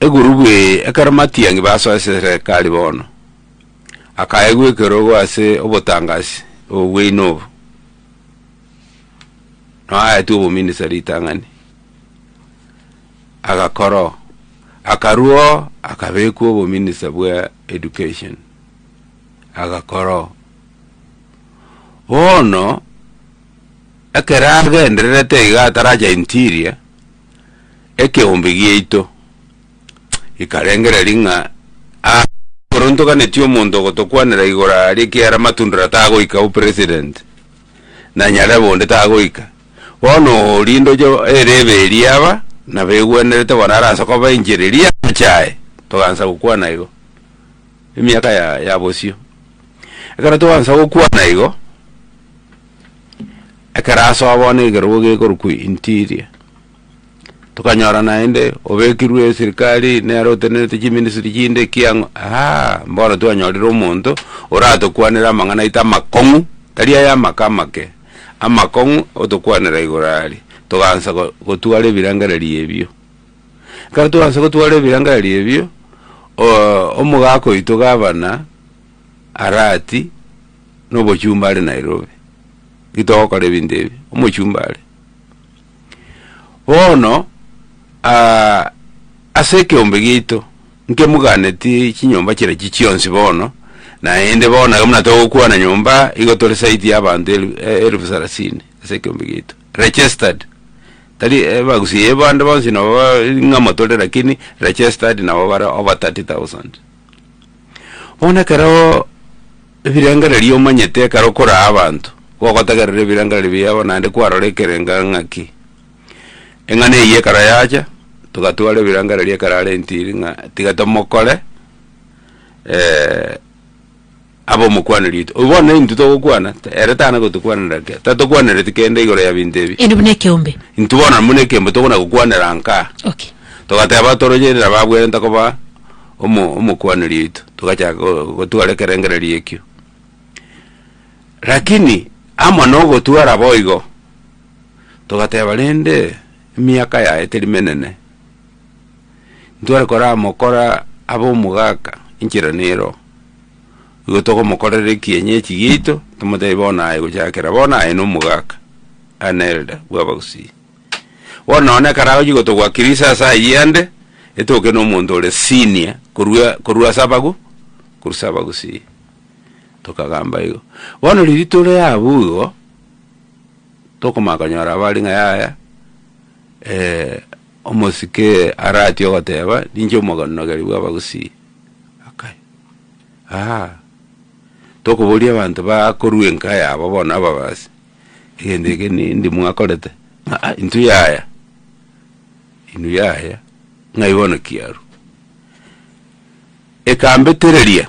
Egurubu eye ekero Matiang'i basoa eserekari bono, akaegwa ekerogo ase obotangasi obobweino obo noaetwe obominisa ritang'ani, agakora oo. Akarua oo akabekwa obominisa bwa education, agakora oo. Bono ekero agendererete iga ataracha interior. ekeombe giaito ikarengereria ng'a aa ekero ntoganetie omonto ogotokwanera igoro aria ekiagera Matundra tagoika o president, na Nyarebe onde tagoika, bono oria ndoche erebe eria aba nabo egwenerete bono are ase koba enchera eria amache aye, togansa gokwana igo, emiaka ya ya bosio. Ekero togansa gokwana igo. Ekero asoa bono ekerogo gekorokwa interior, tokanyora naende obekirwe eserikari nere otenerete chiministry chinde ki ang'o aaha bono twanyorire omonto oratokwanere amang'ana aito amakong'u tari aya amaka amake, amakong'u otokwanera igoro aria, togaansa go- gotwara ebirengererio ebio. Ekero twaansa gotwara ebirengererio ebio omogaka oito gavana. Arati nobochumba are Nairobi, ki togokora ebinto ebi, omochumba are. Bono ase ekeombe giaito, nkemoganeti chinyomba chire echi chionsi bono, naende bono nabo buna togokwana nyomba, igo tore zaidi ya abanto elu elfu sarasini ase ekeombe giaito, registered, tari ebagusia ya abande bonsi nabo ring'ana tore lakini registered nabo bare over thirty thousand. Bono ekero ebirengererio omanyete ekero okoraa abanto, nigo ogotegerera ebirengererio biabo naende kwarora ekerengo ng'aki. Eng'ana eyio ekero yacha, togatwara ebirengererio ekero are ntiri ng'a tiga tomokore. Abe omokwaneri oito. Oyo bono naintwe togokwana, ta- ere tana gotokwanaera kera, tatokwanereti kende igoro ya binto ebi. Ere buna ekeombe. Intwe bono na buna ekeombe tokona gokwanera nkaa. Okay. Togateba toroche nabo abwenerete koba omo omokwaneri oito, togachaka go- gotwara ekerengererio ekio. Rakini amo na ogotwara boigo, togateba rende emiaka yaye teri menene, ntware koramokora abe omogaka, enchera nero. igo togomokorera ekienyeji giaito, tomotebi bono aye gochakera bono aye na omogaka, an elder, bw'abagusii. Bono nonya na ekero agochia gotogwa Christmas ayio ande, etoke na omonto ore senior korwa korwa ase abagu korwa ase abagusii, tokagamba igo. Bono riria tore abwo igo, tokomanya konyora bare ng'a yaya omosike arati ogoteba ninche omoganonogeri bw'abagusii. Aa, tokoboria abanto bakorua enka yabo bono ababasi, egento eke nindi mwakorete? Aa intwe yaya, inwe yaya, ng'ai bono kiarwa? Ekambetereria,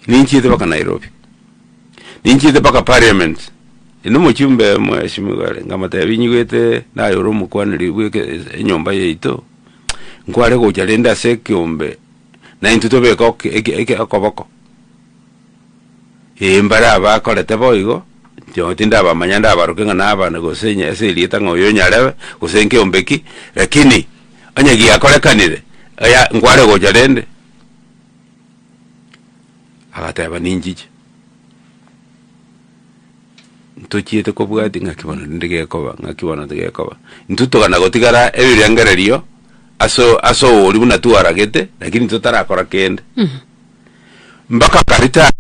ninchiete mpaka Nairobi, ninchiete mpaka parliament, ere nomochumbe mweshimiwa ere, nkamotebia, nyigwete naye ore omokwaneri bw'eke enyomba yaito. Nkware gocha rende ase ekeombe, na intwe tobeke ok- eke- eke- okoboko? Ee, mbare abakorete boigo, intwe tindabamanya ndabaroke ng'a nabana gose enye ase erieta ng'a oyo nyarebe, gose nkeombe ki, rakini onye giakorekanire, aya nkware gocha rende. Agateba ninchiche. ntochiete kobwatia ng'aki bono rende gekoba, ng'aki bono tigekoba. Intwe togana gotigara ebirengererio ase o- ase ogo oria buna twaragete, lakini totarakora kende. Mpaka akaritaya,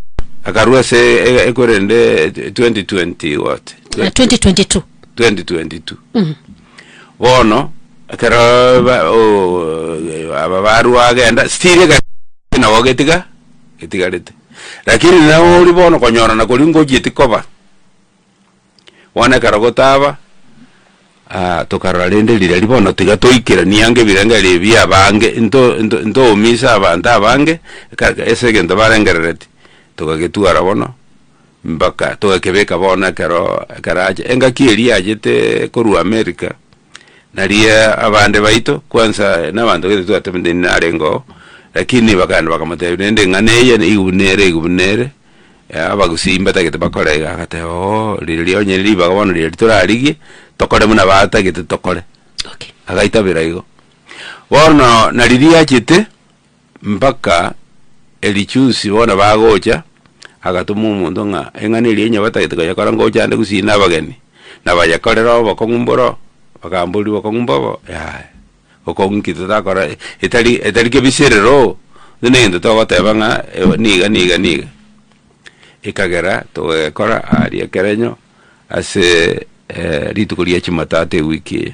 akarua ase e- ekwerende tw- twenty twenty what? Na 2022. Twenty twenty two. Bono, ekeroo ba- o- o- aba barwa agenda, still ekero nabo ogetiga. etigarete. Rakini nawe ori bono konyora na koria ngochieti koba, bono ekero gotaba, tokarora rende rirari bono tiga toikeranie ange ebirengererio bia abange into into intoumise abanto abange ka ka ase egento barengerereti, togagetwara bono mpaka togakebeka bono ekero ekero ache engaki eria yachete korwa amerika. Naria abande baito, kwansa nabanto baito twatebiwe ninde narenge oo, lakini bakaenda bakamotebia rende eng'ana eye nigo buna ere igo buna ere, abagusii mbatagete bakore iga, agateba ooh riria onye ribaga bono riria torarigie, tokore buna batagete tokore, Okay. agaita bira igo. Bono na riria achete. Mpaka erichusi bono bagocha, agatoma omonto ng'a eng'ana eria onye batagete koyekora ngocha ande gusii nabageni, na bayekorere obokong'u mboro, bakambori bokong'u mbobo yaya, bokong'u ki totakora etari etari kebiserero, buna egento togoteba ng'a ewa niga niga niga. Ekagera togekora aria ekerenyo ase rituko ria chimatatoo ewiki eye.